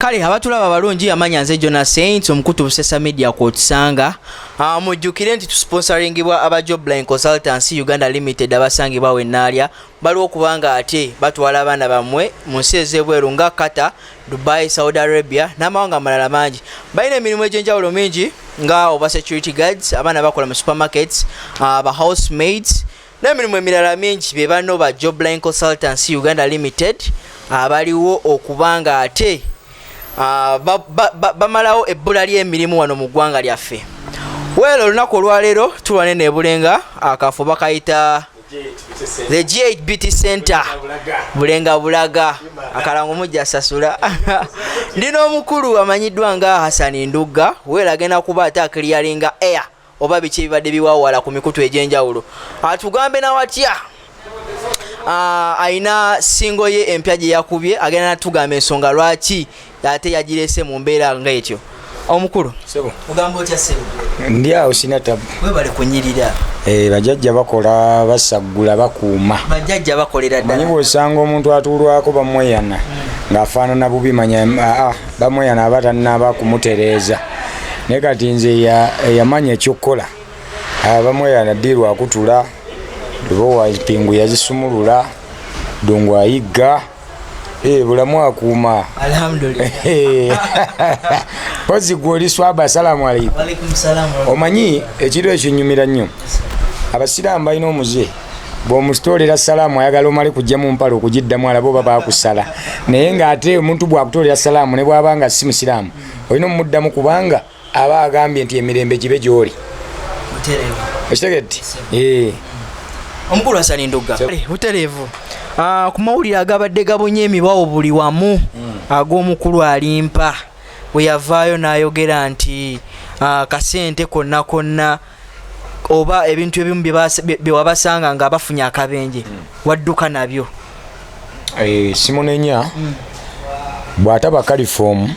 kale abatulaba abalungi yamanya nze jona saint omukutu busesa media kwotusanga ah, mujjukire nti tusponsoringibwa aba jobline consultancy uganda limited abasangibwa wenaalya baliwo okubanga ate batwala abaana bammwe mu nsi ez'ebweru nga qatar dubai saudi arabia n'amawanga amalala mangi balina emirimu egy'enjawulo mingi nga oba security guards abaana bakola mu supermarkets ah, ba house maids n'emirimu emirala mingi be banno ba jobline consultancy uganda limited abaliwo okuba nga ate ah, bamalawo ebbula ly'emirimu wano mu ggwanga lyaffe weelo olunaku olwaleero tulwane nebulenga akafo bakayita the g8 bt center bulenga bulaga akalango mujja sasula ndi n'omukulu amanyiddwa nga hasani ndugga weelo agenda kuba ate akiliyaringa air oba biki ebibadde biwawala ku mikutu egy'enjawulo atugambe nawatya ah, alina singo ye empya gye yakubye agenda natugamba ensonga lwaki ate yagirese mu mbeera nga etyo omukulu ogamba otya sebo ndi awo sina tabu webale kunyirira eh, bajajja bakola basaggula bakuuma bajajja bakolera ddala manyi bwosanga omuntu atuulwako bamweyana hmm. ng'afaanana bubi manya aa ah, ah. bamweya naba tanaba kumutereeza naye kati nze eyamanya ekyokukola ah, bamweya nadiirwa akutula lubowa pingu yazisumulula dungu ayigga eh, bulamu akuuma pozi gwe oli swaba asalamu aleikum omanyi ekiro ekyo nyumira nnyo abasiraamu balina omuze bwomusitoolera salaamu ayagala omale kujja mu mpala okugiddamu alaba oba baakusala naye ng'ate omuntu bwakutoolera salaamu ne bwaba nga si musiraamu olina omumuddamu kubanga aba agambye nti emirembe gibe gy'oli okitegedde eh. omukulu asala endugga butereevu ah, ku mawulire agabadde gabunye emibawo buli wamu hmm. ag'omukulu alimpa bwe yavaayo n'ayogera nti ah, kasente konna konna oba ebintu ebimu bewabasanga nga bafunye akabenje mm. wadduka nabyo eh, simunenya mm. bwataba kalifomu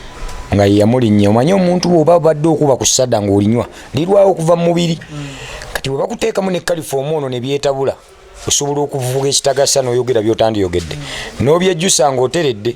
nga yeyamulinya omanye omuntu bwoba badde okuba ku sada nga olinywa lirwawo okuva mumubiri mm. kati webakuteekamu ne kalifomu ono nebyetabula osobola okuvuga ekitagasa noyogera byotandiyogedde nobyejjusa nga oteredde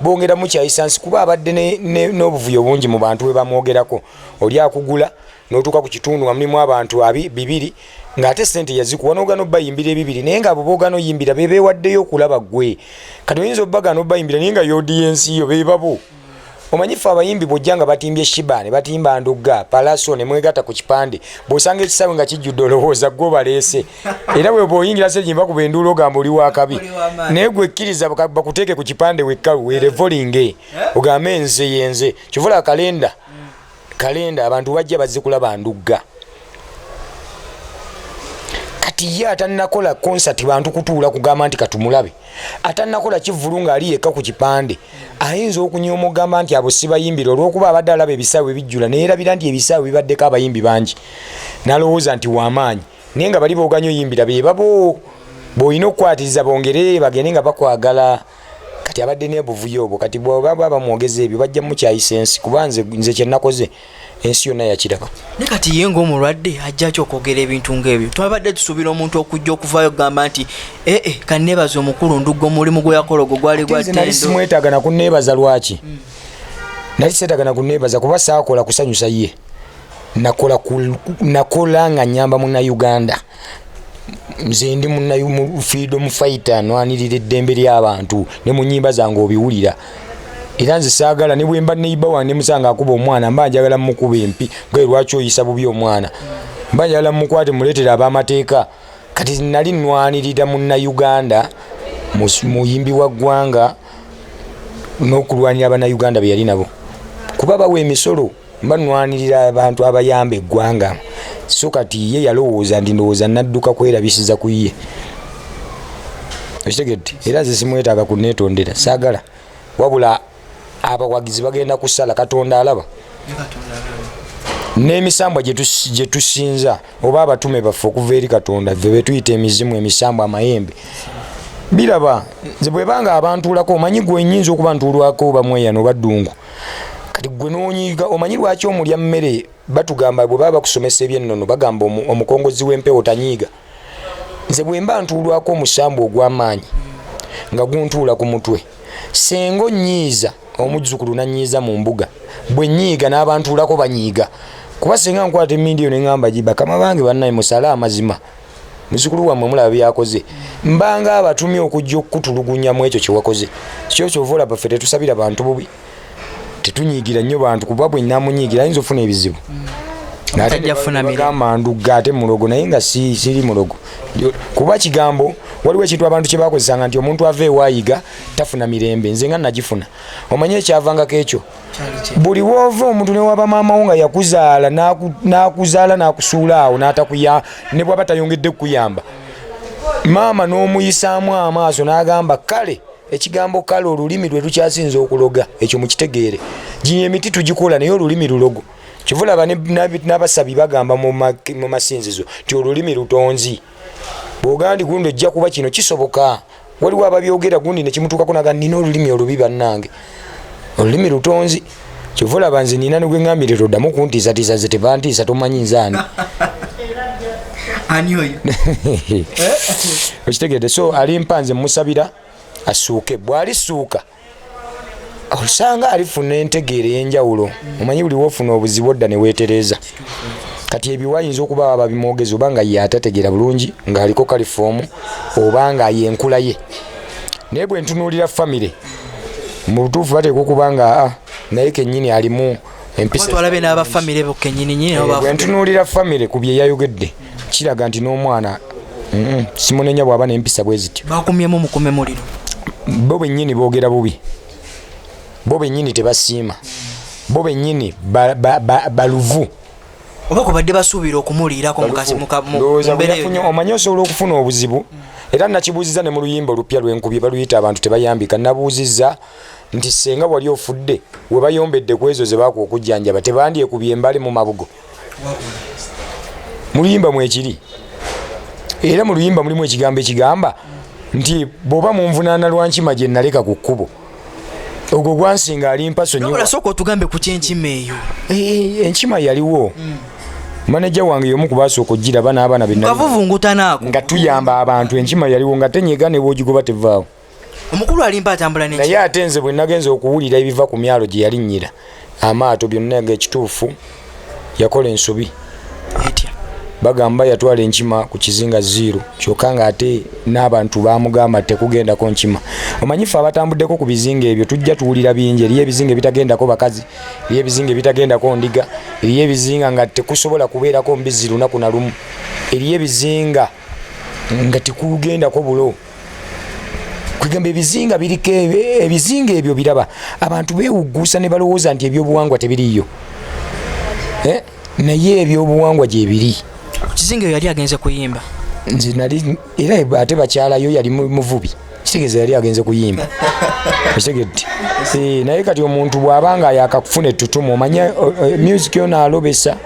bongera mukyayisa nsi kuba abadde n'obuvuyo bungi mu bantu bwebamwogerako oli akugula notuuka ku kitundu nga mulimu abantu abi bibiri ng'ate sente yazikuwa nogana obayimbira ebibiri naye nga bobogana oyimbira bebewaddeyo okulaba gwe kati oyinza obagana obayimbira naye nga yodiyensi yo bebabo omanyi fe abayimbi bwojja nga batimbye shiba ne batimba ndugga palaso ne mwegata ku kipande bwosanga ekisaawe nga kijjudde olowooza gwe obaleese era bwe bwoyingira se jimba kuba enduula ogamba oli wakabi naye gwe kkiriza bakuteeke ku kipande wekkalu werevolinge eh? eh? ogambe nze yenze kivula kalenda mm. kalenda abantu bajja bazikula bandugga kati ye atanakola concert bantu kutuula kugamba nti katumulabe atanakola kivulu ng'ali yekka ku kipande ayinza okunya omugamba nti abo sibayimbira olwokuba abadde alaba ebisaawe bijjula neyerabira nti ebisaawe bibaddeko abayimbi bangi nalowooza nti wamaanyi naye nga bali boganyo yimbira bebabo boyina okukwatiriza bongere bagende nga bakwagala kati abadde nebuvuyo obwo kati bwaba bamwogeza ebyo bajja mukyayisa ensi kuba nze nze kyenakoze ensi yonna yakiraba ne kati ye ngaomulwadde ajjaki okwogera ebintu ngaebyo twabadde tusuubira omuntu okujja okuvayo okugamba nti ee eh, eh, kaneebaza omukulu ndugga omulimu gwe yakola ogwo gwali gwanali simwetaaga nakuneebaza lwaki hmm. nali seetaaga nakuneebaza kuba saakola kusanyusa ye nakola nakola nga nyamba muna Uganda nze ndi muna freedom fighter nwanirira eddembe ly'abantu ne mu nyimba zange obiwulira era nze saagala ne bwemba neiba wange musanga akuba omwana mba njagala mukuba empi gwe lwaki oyisa bubi omwana mba njagala mukwate muleetera ab'amateeka kati nali nwanirira muna Uganda muyimbi wa ggwanga n'okulwanira abana Uganda beyali nabo kuba bawa emisolo mba nwanirira abantu abayamba eggwanga so kati ye yalowooza nti ndowooza nadduka kwerabisiza ku ye okitegedde era nze simwetaaga kunetondera saagala wabula abawagizi bagenda kusala katonda alaba n'emisambwa gye tusinza oba abatume baffe okuva eri katonda fe betuyita emizimu emisambwa amayembe biraba nze bwebanga abantuulako omanyi gwenyinza okuba ntuulwako oba mweyano oba ddungu kati gwe nonyiga omanyi lwaki omulya mmere batugamba bwe baba bakusomesa ebyennono bagamba omukongozi w'empewo tanyiiga nze bwe mba ntuulwako omusambu ogw'amaanyi nga guntuula ku mutwe senga onnyiiza omuzzukulu nanyiiza mu mbuga bwe nyiiga n'abantuulako banyiiga kuba senga nkwata emindi eyo ne ŋamba gi bakama bange bannaye musale amazima muzukulu wammwe mulaba byakoze mbanga abatumye okujja okukutulugunya mu ekyo kyewakoze kyo kyova olaba ffe tetusabira bantu bubi tetunyigira nnyo bantu kuba bwe namunyigira ayinza ofuna ebizibu gamba ndugga ate mulogo naye nga siri mulogo kuba kigambo waliwo ekintu abantu kyebakozesanga nti omuntu ava ewayiga tafuna mirembe nze nga nagifuna omanye ekyavangako ekyo buli woova omuntu newaba maamawo nga yakuzaala nakuzaala nakusuula awo natakuya ne bwaba tayongedde kukuyamba maama n'omuyisaamu amaaso n'agamba kale ekigambo kale olulimi lwe lukyasinza okuloga ekyo mukitegeere ginya emiti tugikola naye olulimi lulogo kivulaba n'abasabi bagamba mu masinzizo nti olulimi lutonzi bwogandi gundi ojja kuba kino kisoboka waliwo ababyogera gundi nekimutuukako naga nina olulimi olubi bannange olulimi lutonzi kyova olaba nze nina negweŋambirira oddamu okuntiisatiisa ze tebantiisa tomanyi nzaani okitegedde so alimpa nze musabira asuuke bwalisuuka osanga alifuna entegeera ey'enjawulo omanyi buli wofuna obuzibu odda ne weetereeza kati ebyo wayinza okuba aba bimwogezi oba nga ye atategeera bulungi ng'aliko kalifoomu oba nga ye enkula ye naye bwe ntunuulira famire mu butuufu bateekwa okuba nga ah, naye kennyini alimu empisatwalabe n'abafamire bo kennyininyini eh, bwe ntunuulira famire ku bye yayogedde kiraga nti n'omwana simunenya bwaba nempisa bwe zityo bakumyemu mukume muliro bo bennyini boogera bubi bo bennyini tebasiima bo bennyini baluvu oba kubadde basuubira okumuliirako mukazi omanyi osobola okufuna obuzibu era nakibuuziza ne mu luyimba olupya lwenkubye baluyita abantu tebayambika nabuuziza nti senga wali ofudde webayombedde kwezo zebaku okujjanjaba tebandyekubye embali mu mabugo mu luyimba mwekiri era mu luyimba mulimu ekigambo ekigamba nti bwoba munvunaana lwankima gye naleka ku kkubo ogwo gwansinga ali mpaso nyosooka otugambe ku kyenkima eyo eh, eh, enkima yaliwo hmm. maneja wange yomu kubaasooka okugiraba n'abaana benavuvungutanaako nga tuyamba abantu enkima yaliwo nga tenyega ne bwogigoba tevaawo omukulu alimba atambula ne naye ate nze bwe nagenze okuwulira ebiva ku myalo gye yalinnyira amaato byonna nga ekituufu yakola ensobi etya bagamba yatwala enkima ku kizinga ziiro kyokka nga ate n'abantu bamugamba tekugendako nkima omanyife abatambuddeko ku bizinga ebyo tujja tuwulira bingi eriyo ebizinga ebitagendako bakazi eriyo ebizinga ebitagendako ndiga eriyo ebizinga nga tekusobola kubeerako mbizi lunaku na lumu eriyo ebizinga nga tekugendako bulo kwegamba ebizinga biriko ebizinga ebyo biraba abantu bewugguusa ne balowooza nti ebyobuwangwa tebiriiyo eh? naye ebyobuwangwa gyebiri kizinga eyo yali agenze kuyimba nze nali era ate bakyalayo yali muvubi kitegeeza yali agenze kuyimba okitegedde eh, naye kati omuntu bw'aba nga yakakufuna ettutumu omanya eh, music yona alobesa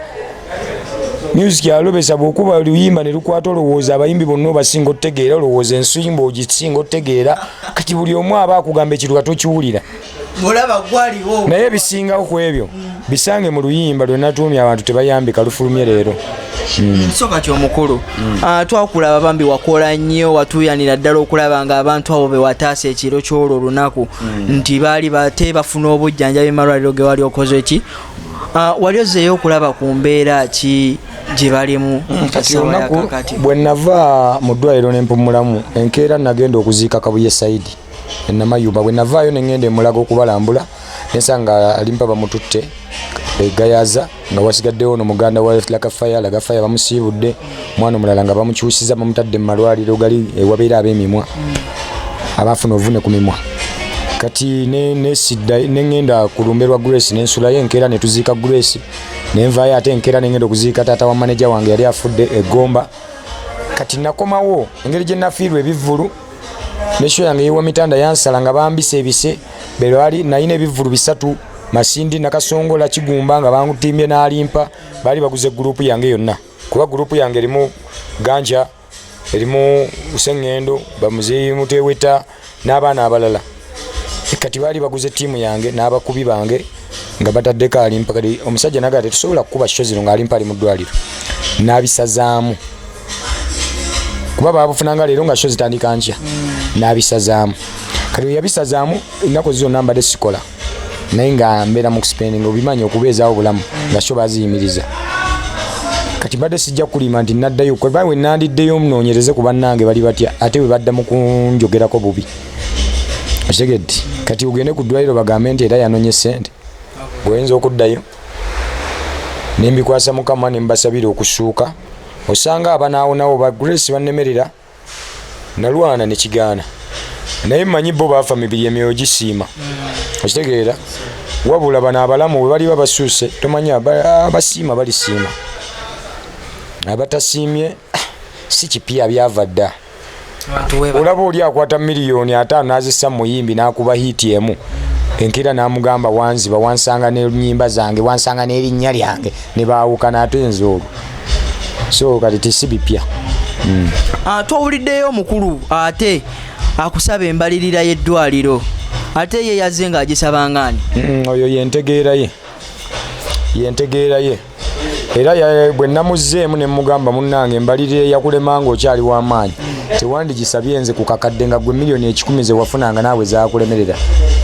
music alobesa bwokuba oluyimba nelukwata olowooza abayimbi bonna obasinga otegeera olowooza ensimba ogisinga otegeera kati buli omu aba akugamba ekintu ka tokiwulira naye ebisingawo ku ebyo bisange mu luyimba lwenatuumye abantu tebayambika lufulumye leero hmm. kisoka kyomukulu hmm. ah, twakulaba bambi wakola nnyo watuyanira ddala okulaba nga abantu abo bewataasa ekiro kyolwo olunaku hmm. nti baali bate bafuna obujjanjabi malwaliro gewali okoze ki Ah, wali ozzeeyo okulaba ku mbeera ki gye balimu mm, kati olunaku bwe nava mu ddwaliro ne mpumulamu enkeera nagenda okuziika kabuye saidi enamayumba bwe navaayo ne ngenda emulaga okubalambula nensa nga alimpa bamututte egayaza nga wasigaddewo no muganda wa laka faya laga faya bamusiibudde mwana omulala nga bamukyusiza bamutadde mu malwaliro gali ewabeera ab'emimwa abaafuna ovune ku mimwa kati nesidda neŋŋenda ku lumbe lwa grace nensulayo enkeera ne tuziika grace ne nvaayo ate enkeera neŋŋenda okuziika taata wa maneja wange yali afudde egomba kati nakomawo engeri gye nafiirwa ebivvulu nesho yange yewa mitanda yansala nga bambisa ebise belwali nayina ebivvulu bisatu masindi nakasongola kigumba nga bangutimbye n'alimpa baali baguze gurupu yange yonna kuba gurupu yange erimu ganja erimu sengendo bamuzeyi muteweta n'abaana abalala kati baali baguze tiimu yange n'abakubi bange nga bataddeko alimpa kati omusajja nagaa tetusobola kukuba kikyo zino ng'alimpa ali mu ddwaliro n'abisazaamu kuba babufunanga leero nga kyo zitandika nkya n'abisazaamu kati weyabisazaamu ennaku zizonna mbadde sikola naye nga mbeera mu kuspendinga obimanyi okubeezaawo obulamu nga sho baziyimiriza kati mbadde sijja kukulima nti naddayo kuba we nandiddeyo munoonyereze ku bannange bali batya ate bwe badda mu kunjogerako bubi okitegedde kati ogende ku ddwaliro bagambe nti era yanonye ssente gweoyinza okuddayo nembikwasa mukama nembasabira okusuuka osanga abanaawonawo ba grace bannemerera nalwana nekigaana naye manyi bo baafa mibiri emyoyo gisiima okitegeera wabula bano abalamu we baliba basuuse tomanyi abasiima balisiima abatasiimye ah, si kipya byava dda olaba oli akwata miliyoni ataano nazisa muyimbi nakuba hiiti emu enkeera namugamba wanziba wansanga nenyimba zange wansanga nerinnya lyange nebaawukana ate nze olwo so kati tisi bipya mm. uh, twawuliddeyo omukulu ate akusaba embalirira y'eddwaliro ate ye yazze ng'agisaba ngaani mm, oyo yentegeera ye yentegeera ye era bwe namuzzeemu ne mugamba munnange embalirira eyakulema nga okyali w'amaanyi tewandigisabye nze ku kakadde nga gwe miliyoni ekikumi ze wafunanga naawe zakulemerera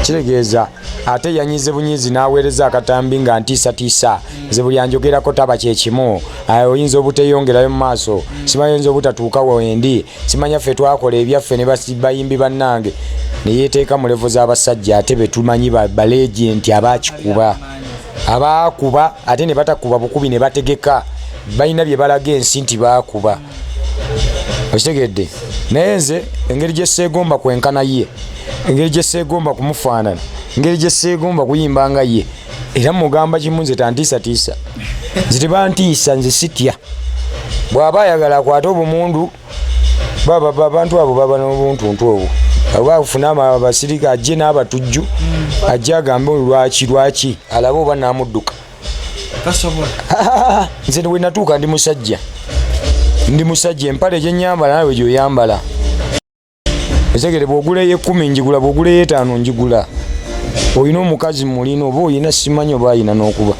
kitegeeza ate yanyize bunyizi n'aweereza akatambi nga ntiisatiisa nze buli anjogerako taba kye kimu oyinza obuteyongerayo mu maaso simanya oyinza obutatuuka wendi simanya ffe twakola ebyaffe ne bayimbi bannange ne yeeteeka mu levo z'abasajja ate be tumanyi balegienti abakikuba abaakuba ate ne batakuba bukubi ne bategeka balina bye balaga ensi nti baakuba okitegedde naye nze engeri gyeseegomba kwenkana ye engeri gyeseegomba kumufaanana engeri gyeseegomba kuyimba nga ye era mugamba kimu nze tantiisatiisa nze tebantiisa nze sitya bw'aba ayagala akwate obumundu abantu abo baba n'obuntuntu obwo oba afuna abasirika ajje n'abatujju ajje agambe lwaki lwaki alabe oba namudduka nze wenatuuka ndi musajja ndi musajja empale gyenyambala nawe gyoyambala ezegere bwogula eyekumi njigula bwogula eyetaano njigula olina omukazi mulina oba olina simanyi oba alina nokuba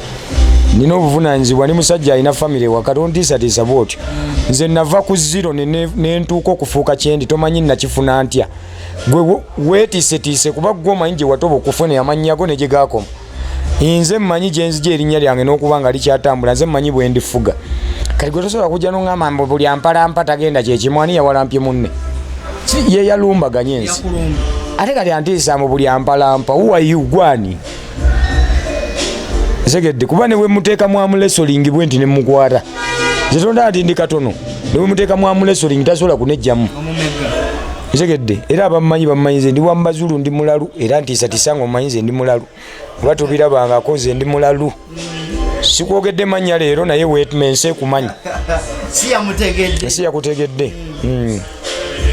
nina obuvunanyizibwa ni musajja alina famiry waka tontiisatiisa bwotyo nze nava ku ziro nentuuka okufuuka kyendi tomanyi nakifuna ntya gwe wetiisetiise kuba gwe omanyi gyewatoba okufuna amanyago negyegakoma nze mmanyi gye nzija erinnya lyange n'okuba nga likyatambula nze mmanyi bwe ndifuga kati gwe tosobola kujja noŋgamba mbu buli ampalampa tagenda kyekimu ani yawalampye munne ye yalumbaganye ensi ate kati antiisa mu buli ampalampa uwayu gwani segedde kuba ne bwe muteeka mwamulesolingi bwe nti ne mukwata zetonda nti ndi katono ne bwe muteeka mwamulesolingi tasobola kunejjamu Ntegedde era abamanyi bamanyi nze ndi wa Mazulu ndi mulalu era ntiisa tiisa nga omanyi nze ndi mulalu oba tobirabangako nze ndi mulalu sikwogedde mannya leero naye wetme nsi ekumanyi nsi yakutegedde hmm.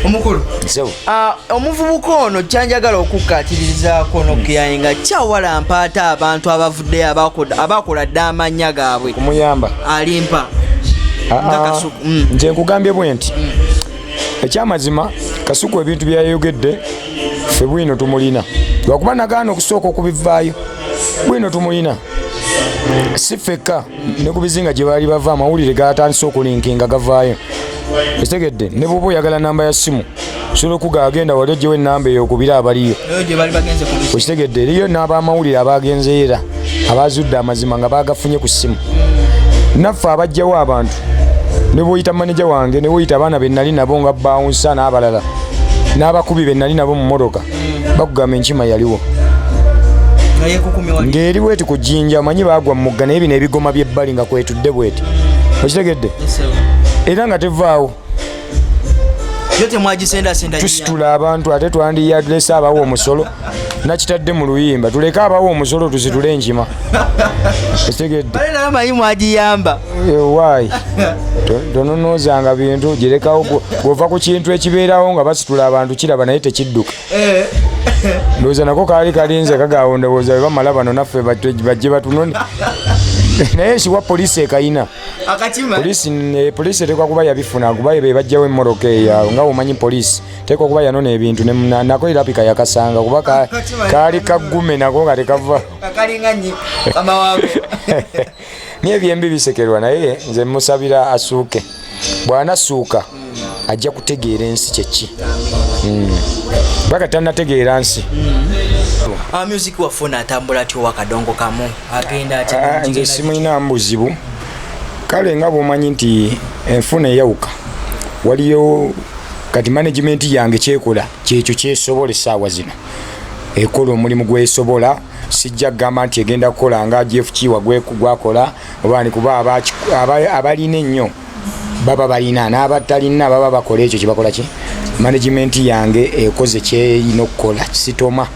omukulu ah, omuvubuka ono kyanjagala okukkatirizaako nokuyaye nga kyawala mpaata abantu abavuddeyo abakola dde amannya gaabwe kumuyamba alimpa ah, ah. hmm. nze nkugambye bwe nti hmm. ekyamazima kasuku ebintu byeyayogedde fe bwino tumulina lwakuba nagaana okusooka okubivaayo bwino tumulina si fekka ne ku bizinga gye baali bava amawulire gatandise okulinkinga gavaayo ekitegedde ne bwoba oyagala namba ya simu osobola okuga agenda wali ojjewo enamba eyokubira abaliyo okitegedde eriyo n'abamawulire abagenzeera abaazudde amazima nga baagafunye ku ssimu naffe abajjawo abantu ne bwoyita maneja wange ne woyita abaana be nnali nabo nga bawunsa n'abalala n'abakubi be nnali nabo mu mmotoka bakugamba enkima yaliwo ng'eri bweti ku jjinja omanyi baagwa mu mugga naye bino ebigoma by'ebbali nga kwetudde bweti okitegedde era nga tevaawo tusitula abantu ate twandiyadresa abawa omusolo nakitadde mu luyimba tuleke abawo omusolo tuzitule enkima ekitegeddeamanyi mwagiyamba ewaayi eh, tononoozanga bintu girekawo bwova ku kintu ekibeerawo nga basitula abantu kiraba naye tekidduka eh. ndowooza nako kaali kalinze kagawo ndowooza webamala bano naffe bajje batunone naye siwa polisi ekayina polisi eh, etekwa kuba yabifuna kuba bebajjawo emmoroka eyo nga womanyi polisi teeka okuba yanona ebintu nako irapika yakasanga kuba ah, kaali kaggume nako nga tekava naye ebyembi bisekerwa naye nze musabira asuuke bwanasuuka hmm. ajja kutegeera ensi kyeki hmm. paka tanategeera nsi hmm. ah, music waffe ono atambula atya owakadongo kamu agenda atya ah, nze simulina mbuzibu kale nga bwomanyi nti enfuna eyawuka waliyo kati management yange kyekola kyekyo kyesobola esaawa zino ekola omulimu gwesobola sijja kugamba nti egenda kukola nga gfkiwa gwakola obani kuba abalina ennyo baba balina n'abatalina baba bakola ekyo kyebakola ki management yange ekoze kyeyina okukola sitoma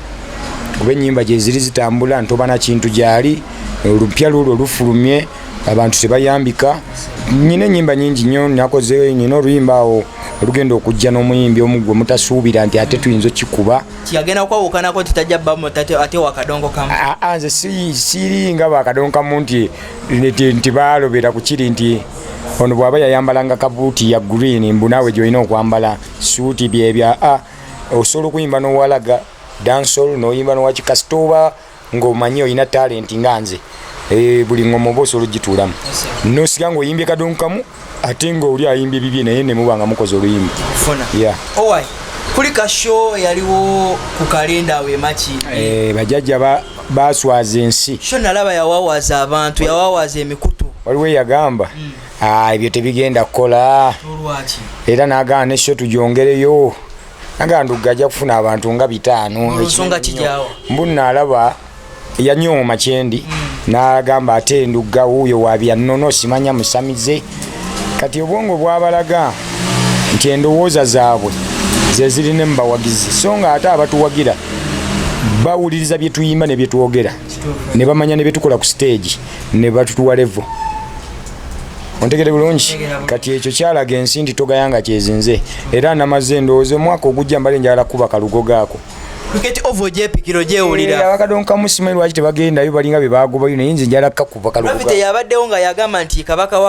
kuba enyimba gyeziri zitambula ntobana kintu gyali olupya lulwo lufulumye abantu tebayambika nyina enyimba nyingi nyo nakoze nyina oluyimba awo olugenda okujja n'omuyimbi omu gwe mutasuubira nti ate tuyinza okikuba agenda kwawukanako nti tajja bamu ate wakadongo kamu nze siri nga bakadongo kamu nti nti balobera ku kiri nti ono bw'aba yayambalanga kabuuti ya green mbu naawe gy'olina okwambala suuti byebya a osobola okuyimba n'owalaga dansol n'oyimba nowakikasita oba ng'omanyi olina talenti nga nze eh, buli ngoma oba osobola ogitulamu nosika ng'oyimbye kadongo kamu ate ng'oli ayimbye bibye naye nemuba nga mukoze oluyimba kulika sho yaliwo ku kalenda awo emaki eh, bajajja baswaza ensi sho nalaba yawawaza abantu yawawaza emikutu waliwo eyagamba hmm. ah, ebyo tebigenda kukola era nagamba nesho tujongereyo nga ndugga ajja kufuna abantu nga bitaano ensonga kijaawo mbu naalaba yanyooma kyendi mm. n'agamba ate ndugga wuuyo wabyannono simanya musamize kati obwongo bwabalaga nti endowooza zaabwe zezirina mu bawagizi so nga ate abatuwagira bawuliriza bye tuyimba ne bye twogera ne bamanya ne bye tukola ku siteegi ne batutuwa levo ontegere bulungi kati ekyo kyalaga ensi nti togayanga kyezinze era namaze endowooza omwaka ogujja mbale njagala kuba kalugo gaako kuketi ovo gyepikiro gyewulira eh, abakadonkamu simanyi lwaki tebagendayo balinga bye bagobayo naye nze njala kakuba kalufite yabaddewo nga yagamba nti kabaka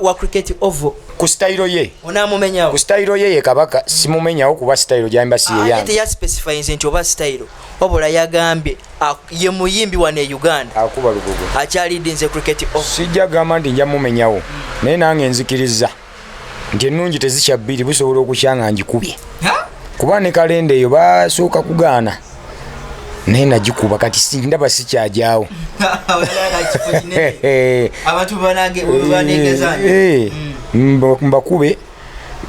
wa cricket ovo ku sitayiro ye onamumenyawo ku sitayiro ye ye kabaka simumenyawo kuba sitayiro gyamba si yeyange ah, teyaspecifyinze nti oba sitayiro wabula yagambye ye muyimbi wano e uganda akuba lugogo akyalidinze cricket sijja gamba nti nja mumenyawo naye nange nzikiriza nti ennungi tezikya bbiri busobola okukya nga ngikubye kuba ne kalenda eyo basooka kugaana naye nagikuba kati sindaba sikyagyawo mbakube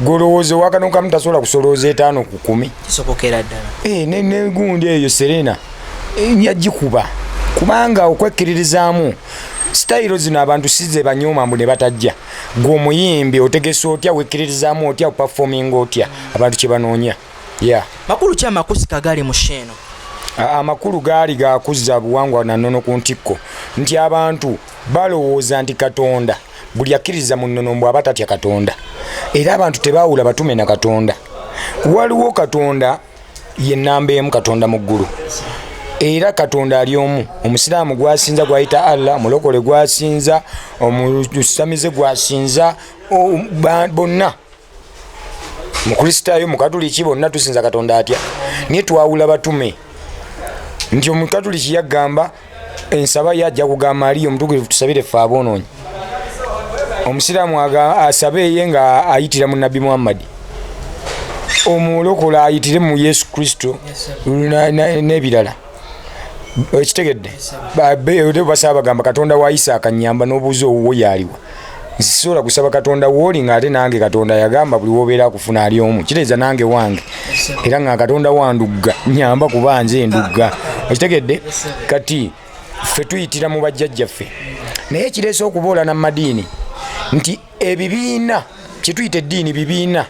golowooza owakano kamu tasobola kusolooza etaano ku kumi kisobokera ddala eh, negundi eyo serena eh, yagikuba kubanga okwekkiririzaamu sitayiro zino abantu size banyooma mbu ne batajja gwe omuyimbi otegesa otya wekkiririzaamu otya opafominga otya abantu kye banoonya ya makulu ki amakusika gali mu sheeno amakulu gaali gakuzza buwangwa nanono ku ntikko nti abantu balowooza nti katonda buli akkiririza mu nnono mbu aba tatya katonda era abantu tebaawula batume na katonda waliwo katonda ye nnamba emu katonda mu ggulu era katonda ali omu omusiraamu gwasinza gwayita allah omulokole gwasinza omusamize gwasinza bonna mukristaayo mukatuliki bonna tusinza katonda atya naye twawula batume nti omukatuliki yagamba ensaba ye ajja kugamba aliyo omutukulivu tusabire ffe aboonoonyi omusiraamu asabe eye nga ayitira mu nabbi muhammadi omulokola ayitire mu yesu kristo n'ebirala yes, ekitegedde basaba bagamba katonda wa isaaka nyamba n'obuuza owuwo yaaliwa nsisobola kusaba katonda wooli ng'ate nange katonda yagamba buli wobeera akufuna ali omu kiteeza nange wange era nga katonda wandugga nyamba kuba nze ndugga okitegedde kati ffe tuyitira mu bajjajjaffe naye kireese okuboolana mu madiini nti ebibiina kyetuyita eddiini bibiina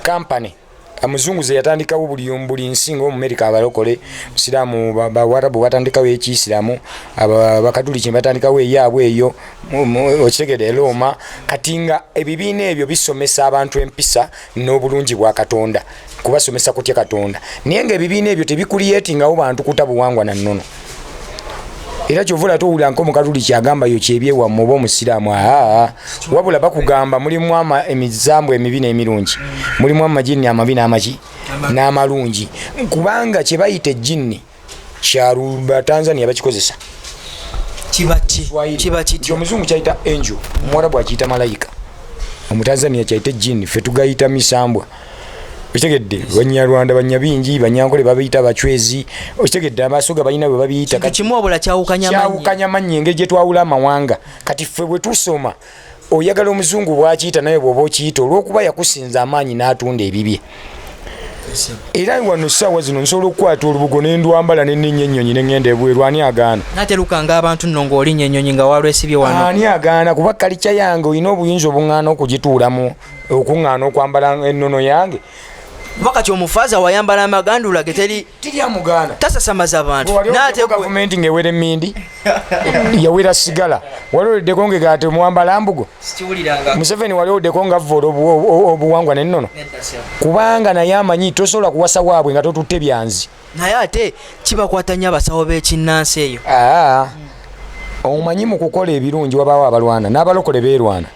kampany amuzungu ze yatandikawo buli buli nsi nga omumerika abalokole musiraamu bawarabu batandikawo ekiisiramu abakatuliki batandikawo eyaabwe eyo okitegede erooma kati nga ebibiina ebyo bisomesa abantu empisa n'obulungi bwa katonda kubasomesa kutya katonda naye nga ebibiina ebyo tebikuliyetingawo bantu kuta buwangwa na nnono era kyova olate owulira nko omukatuliki agamba yo kyebyewamu oba omusiraamu aa wabula bakugamba mulimu emizambu emibi n'emirungi mulimu amajinni amabi n'amaki n'amalungi kubanga kye bayita ejinni kyaluba tanzania bakikozesa omuzungu kyayita angel omuwarabu akiyita malayika omutanzania kyayita ejinni fe tugayita misambwa okitegedde banyarwanda banyabingi banyankole babiyita abacwezi okitegedde amaaso ga balina bwe babiyita kimu obula kyawukanya amanyi engeri gye twawula amawanga kati ffe bwe tusoma oyagala omuzungu bwakiyita naye bwoba okiyita olwokuba yakusinza amaanyi n'atunda ebibye era wano saawa zino nsobola okukwata olubugo nendwambala neninya enyonyi nengenda ebweru ani agaana natelukanga abantu no ngaolinya enyonyi nga walwesibye wano ani agaana kuba kalikya yange olina obuyinza obungana okugituulamu okuŋŋaana okwambala ennono yange kuba kati omufaza wayambala amagandula ge teri tiryamugaana tasasamaza abantu gavumenti ng'ewera emmindi yawera sigala wali oddeko ngega ati omuwambala mbugo museveni wali oddeko nga vvoola obuwangwa nennono kubanga naye amanyi tosobola kuwasa waabwe nga totutte byanzi naye ate kibakwata nnyo abasawo b'ekinnansi eyo ah, omanyi mu kukola ebirungi wabaawo abalwana n'abalokole beerwana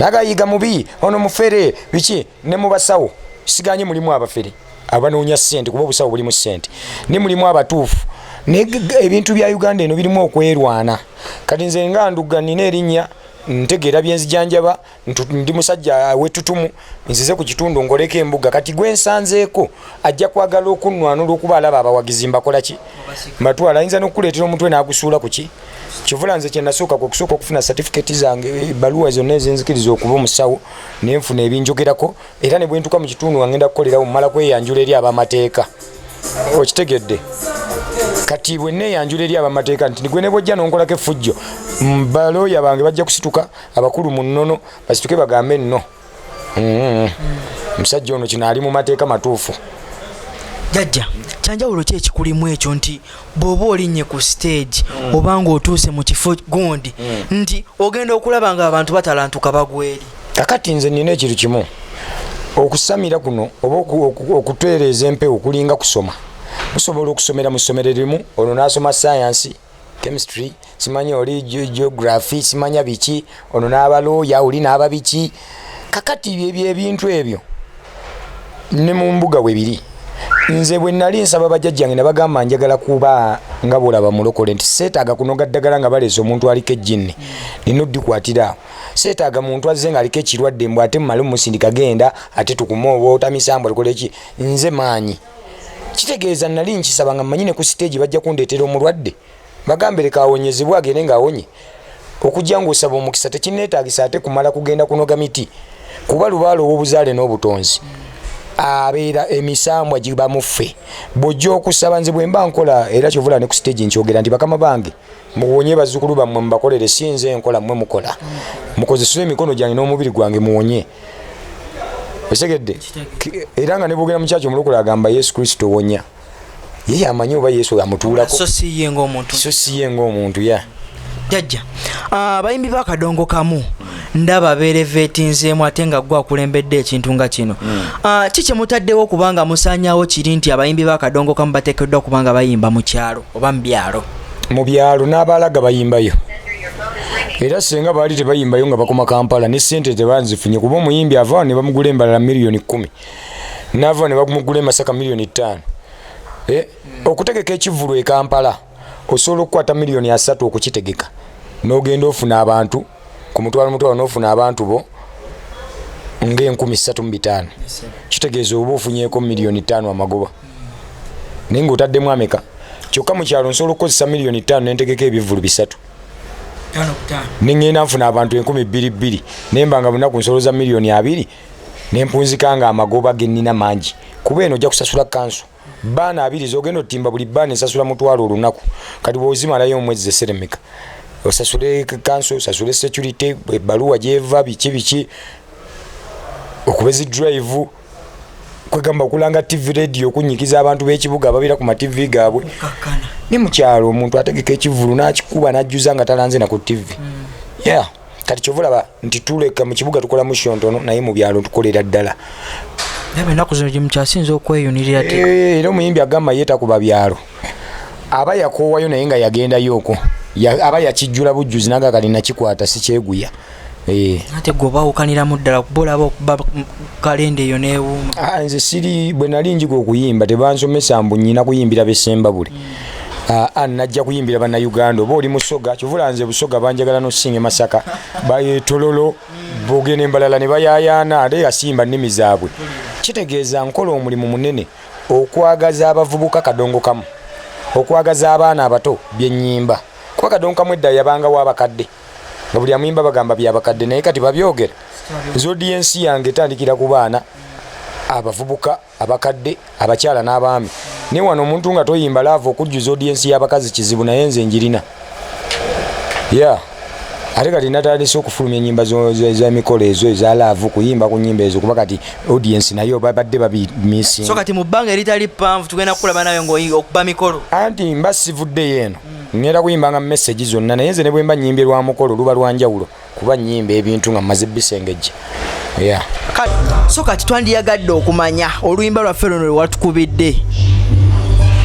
nagayiga mubi ono mufere biki ne mu basawo siganye mulimu abafere abanoonya ssente kuba obusawo bulimu ssente ne mulimu abatuufu naye ebintu bya uganda eno birimu okwerwana kati nze nga nduga nina erinnya ntegeera byenzijanjaba ndi musajja wetutumu nzize ku kitundu ngoleko embuga kati gwe nsanzeeko ajja kwagala okunnwanula okuba alaba abawagizi mbakola ki matwala ayinza n'okukuleetera omutwe n'agusuula ku ki kivula nze kye nasooka kwe kusooka okufuna satifikeeti zange ebbaluwa zonna ezenzikiriza okuba omusawo ne nfuna ebinjogerako era ne bwe ntuuka mu kitundu nga ngenda kukolerawo mmala kweyanjula eri abamateeka okitegedde kati bwe neeyanjula eri abamateeka nti gwe ne bwojja n'onkolako effujjo balooya bange bajja kusituka abakulu mu nnono basituke bagambe nno mm-hmm. omusajja ono kino ali mu mateeka matuufu jajja kyanjawulo ki ekikulimu ekyo nti bw'oba olinnye ku siteegi mm. oba ng'otuuse mu kifo gundi mm. nti ogenda okulaba nga abantu batalantuka bagweri kakati nze nina ekintu kimu okusamira kuno oba okutereeza empewo kulinga kusoma musobola okusomera mu ssomero erimu olwo n'asoma sayansi chemistry simanyi oli geography simanya biki ono n'abalooya oli n'aba biki kakati ebintu ebyo ne mu mbuga we biri nze bwe nali nsaba bajajjange ne bagamba njagala kuba nga bwolaba mulokole nti seetaaga kunoga ddagala nga baleese omuntu aliko ejjinni nina oddikwatira awo seetaaga muntu azze nga aliko ekirwadde mbw ate mumale mumusindika genda ate tukume oba otamisambwa tukoleki nze maanyi kitegeeza nali nkisaba nga mmanyi ne ku siteegi bajja kundeetera omulwadde bagambe leka awonyezebwe agende ng'awonye okujja ng'osaba omukisa tekinneetaagisa ate kumala kugenda kunoga miti kuba lubaala ow'obuzaale n'obutonzi abeera emisambwa giba muffe bw'ojja okusaba nze bwe mba nkola era kyovula ne ku siteegi nkyogera nti bakama bange muwonye bazzukulu bammwe mubakolere si nze nkola mmwe mukola mukozeseza emikono gyange n'omubiri gwange muwonye osegedde era nga nebwogera mukyaki omulokole agamba yesu kristo wonya ye yamanyi oba yesu amutuulako so si ye ngaomuntu ya jajja ah, abayimbi bakadongo kamu ndaba berevetinzeemu ate nga gwe akulembedde ekintu nga kino hmm. ah, ki kyemutaddewo kubanga musanyawo kiri nti abayimbi bakadongo kamu batekeddwa kubanga bayimba mu kyalo oba mu byalo mu byalo n'abaalaga bayimbayo era singa baali tebayimbayo nga bakoma kampala ne sente tebanzifunye kuba omuyimbi avaawo ne bamugula embalala miliyoni kumi naavaawo ne bamugula emasaka miliyoni ttaano eh, okutegeka ekivulu e kampala osobola okukwata miliyoni asatu okukitegeka n'ogenda ofuna abantu ku mutwalo mutwalo n'ofuna abantu bo ngaenkumi ssatu mu bitaano kitegeeza oba ofunyeko miliyoni ttaano amagoba naye ngaotaddemu ameka kyokka mu kyalo nsobola okukozesa miliyoni ttaano nentegeka ebivvulu bisatu neŋŋenda nfuna abantu enkumi bbiri bbiri naye mba nga bunaku nsoloza miliyoni abiri nempunzika nga amagoba gennina mangi kuba eno ojja kusasula kanso baana abiri zogenda otimba buli baana esasula mutwalo olunaku kati bwozimalayo omwezi zeseremeka osasule kanso osasule security ebaluwa gyeva biki biki okubezi drive kwegamba okulanga tv radio okunyikiza abantu b'ekibuga ababeera ku matv gaabwe ne mukyalo omuntu ategeka ekivulu n'akikuba n'ajjuza nga talanze na ku tv mm. yeah kati kyova olaba nti tuleka mu kibuga tukola musho ntono naye mu byalo tukolera ddala enaku zino gyemukyasinza okweyunirira eh, era omuyimbi agamba ye takuba byalo aba yakoowayo naye nga yagendayo okwo aba yakijjula bujjuzi naga kali nakikwata sikyeguya Eh. ate gwe obawukaniramu ddala kuba olaba okuba kalenda eyo newuuma ah, nze siri bwe nali njiga okuyimba tebansomesa mbu nyina kuyimbira besembabule mm. ah, ah, najja kuyimbira banauganda oba oli musoga kyovula nze busoga banjagala nosinga emasaka bayetololo mm. boge nembalala ne bayayaana ate yasimba nnimi zaabwe mm. kitegeeza nkola omulimu munene okwagaza abavubuka kadongo kamu okwagaza abaana abato byenyimba kuba kadongo kamu edda yabangawo abakadde nga buli amuyimba bagamba byabakadde naye kati babyogera zodi yensi yange etandikira ku baana abavubuka abakadde abakyala n'abaami naye wano omuntu nga toyimba laava okujjuza odi yensi y'abakazi kizibu naye nze njirina ya ate kati natandise okufulumya enyimba zemikolo ezo eza laavu kuyimba ku nyimba ezo kuba kati audiensi nayo babadde babimisinga kati mu bbanga eritali ppanvu tugenda kukulaba nayo ngaokuba mikolo anti mba sivuddeyo eno Ngenda kuyimbanga message zonna naye nze ne bwemba nyimbye lwa mukolo luba lwa njawulo kuba nyimba ebintu nga mmaze bisengejja yeah. so kati twandiyagadde okumanya oluyimba lwaffe luno lwewatukubidde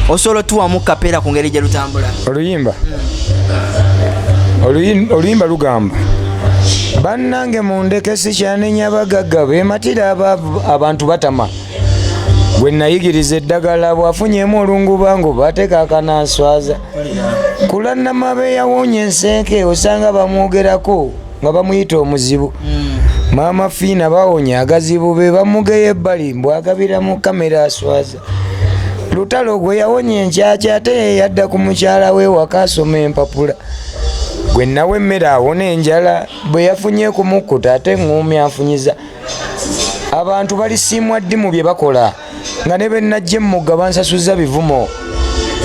osobola otuwamu kapeera ku ngeri gye lutambula oluyimba oluyimba lugamba bannange mundeke sikyanenya bagagga bematira abantu batama gwe nayigiriza eddagala bwafunyemu olungubango bateeka akananswaza kulannama beyawonya ensenke osanga bamwogerako nga bamuyita omuzibu hmm. maama fiina bawonya agazibu be bamugeya ebbali mbwagabira mu kamera aswaza lutalo gwe yawonya enkyakya ate yeyadda ku mukyala we waka asoma empapula gwe nawe emmere awona enjala bwe yafunye kumukkuta ate ng'omi afunyiza abantu balisiimwa ddi mu bye bakola nga ne bennajja emmugga bansasuzza bivumo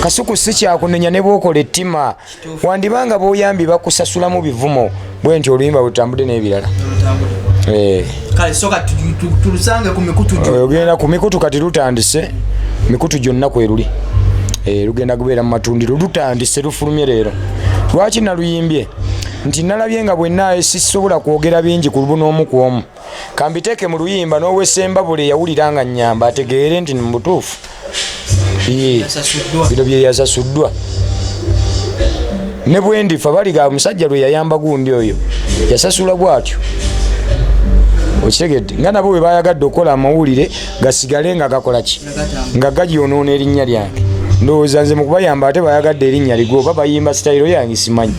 kasuku si kyakunenya ne bwokola ettima wandiba nga boyambi bakusasulamu bivumo bwe nti oluyimba bwetutambudde n'ebirala eh. ogenda ku mikutu kati lutandise mikutu gyonna kweruli eh, lugenda kubeera mu matundiro lutandise lufulumye leero lwaki naluyimbye nti nalabye nga bwenna sisobola kwogera bingi ku lubu n'omu ku omu kambiteeke mu luyimba n'owesemba buli eyawulira nga nnyamba ategeere nti mu butuufu bino bye yasasuddwa ne bwe ndifa baliga omusajja lwe yayamba gundi oyo yasasula bwatyo okitegedde nga nabo bwe bayagadde okukola amawulire gasigale nga gakola ki nga gagyonoona erinnya lyange ndowooza nze mukubayamba ate bayagadde erinnya ligwe oba bayimba sitayiro yange simanyi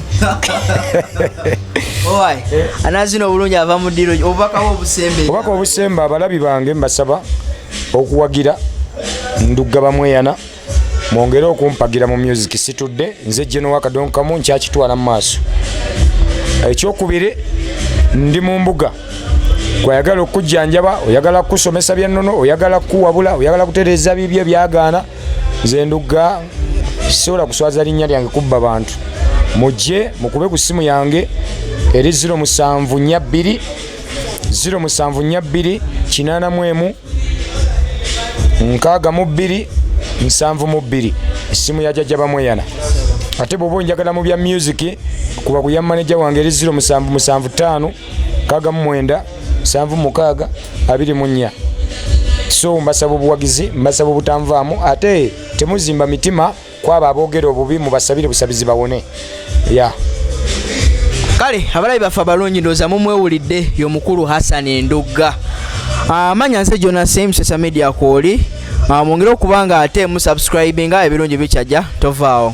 anazina obulungi ava mu diro obubaka obusembe obubaka obusembe abalabi bange mbasaba okuwagira ndugga bamweyana mwongere okumpagira mu music situdde nze jenowakadonkamu nkyakitwala mu maaso ekyokubiri ndi mu mbuga gwayagala okukujjanjaba oyagala kukusomesa byannono oyagala kukuwabula oyagala kutereeza bibyo byagaana nze ndugga sisobola kuswaza linnya lyange kubba bantu mujje mukube ku ssimu yange eri 0742 0742 8 nkaaga mu bbiri nsanvu mu bbiri essimu ya jajja bamweyana ate bwoba onjagala mu bya musiki kuba ku ya maneja wange eri 0775 kaga mu mwenda sanvu mukaaga abiri mu nnya so mbasaba obuwagizi mbasaba obutanvaamu ate temuzimba mitima kwabo aboogera obubi mubasabire busabizi bawone ya yeah. kale abalabi baffe abalungi ndooza mumwewulidde yomukulu hassan endugga amanya ah, nze jonas msesa media kwoli ah, mwongere okuba nga ate musubscribe nga ebirungi bikyajja tovaawo